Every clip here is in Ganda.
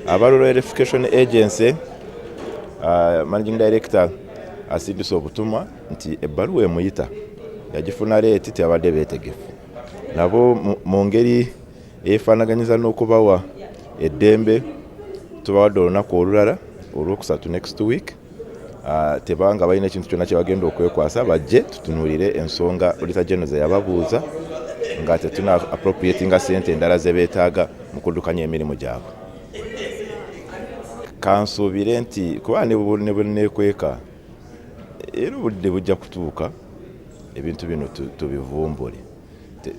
abalula verification agency uh, managing director asindise obutumwa nti ebbaluwa emuyita yagifuna leeti teyabadde beetegefu nabo mu ngeri eyefaanaganyiza n'okubawa eddembe tubawadde olunaku olulala olwokusatu next week Ah, tebanga balina ekintu kyonna kyebagenda okwekwasa bajje tutunulire ensonga olita geno zeyababuuza nga tetuna appropriatinga sente endala zebetaaga mu kuddukanya emirimu gyabwe kansuubire nti kuba nebwenekweka era obudde bujja kutuuka ebintu bino tubivumbule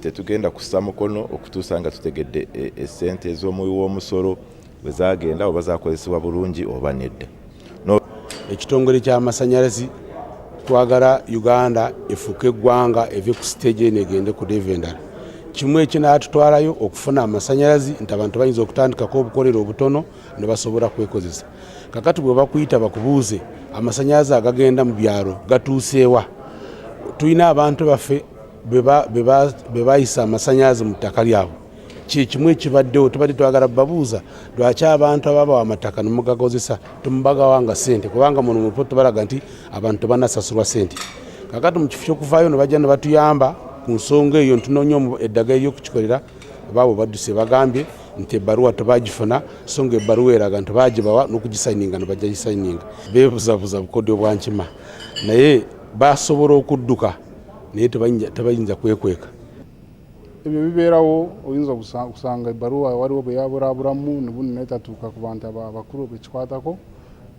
tetugenda kussa mukono okutuusa nga tutegedde esente eh, eh, ez'omuwi w'omusolo bwe zaagenda oba zakozesebwa bulungi oba nedda. Ekitongole ky'amasannyalaze twagala Uganda efuuke eggwanga eve ku siteegi eno egende ku deeva endala. Kimu ekinaatutwalayo okufuna amasannyalaze nti abantu bayinza okutandikako obukolero obutono ne basobola kwekozesa. Kakati bwe bakuyita bakubuuze amasannyalaze agagenda mu byalo gatuuseewa. Tulina abantu baffe be bayisa amasannyalaze mu ttaka lyabwe. kyekimu ekibaddewo tubadde twagala babuuza lwaki abantu ababawa amataka nemugagozesa temubagawanga sente kubanga muno mupo tubalaga nti abantu tebanasasulwa sente kakati mukifo kyokuvayo nebajja nebatuyamba ku nsonga eyo ntunonya eddaga eryokukikolera baabo badduse bagambye nti ebbaluwa tebagifuna so nga ebbaluwa eraga nti bagibawa nokugisayininga nebajja gisayininga bebuzabuza bukodyo bwankima naye basobola okudduka naye tebayinza kwekweka ebyo bibeerawo oyinza okusanga ebbaluwa waliwo bwe yaburaburamu nebuno naye tatuuka ku bantu abakulu bekikwatako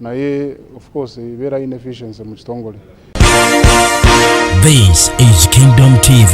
naye of course ebeera inefficiency mu kitongole This is Kingdom TV.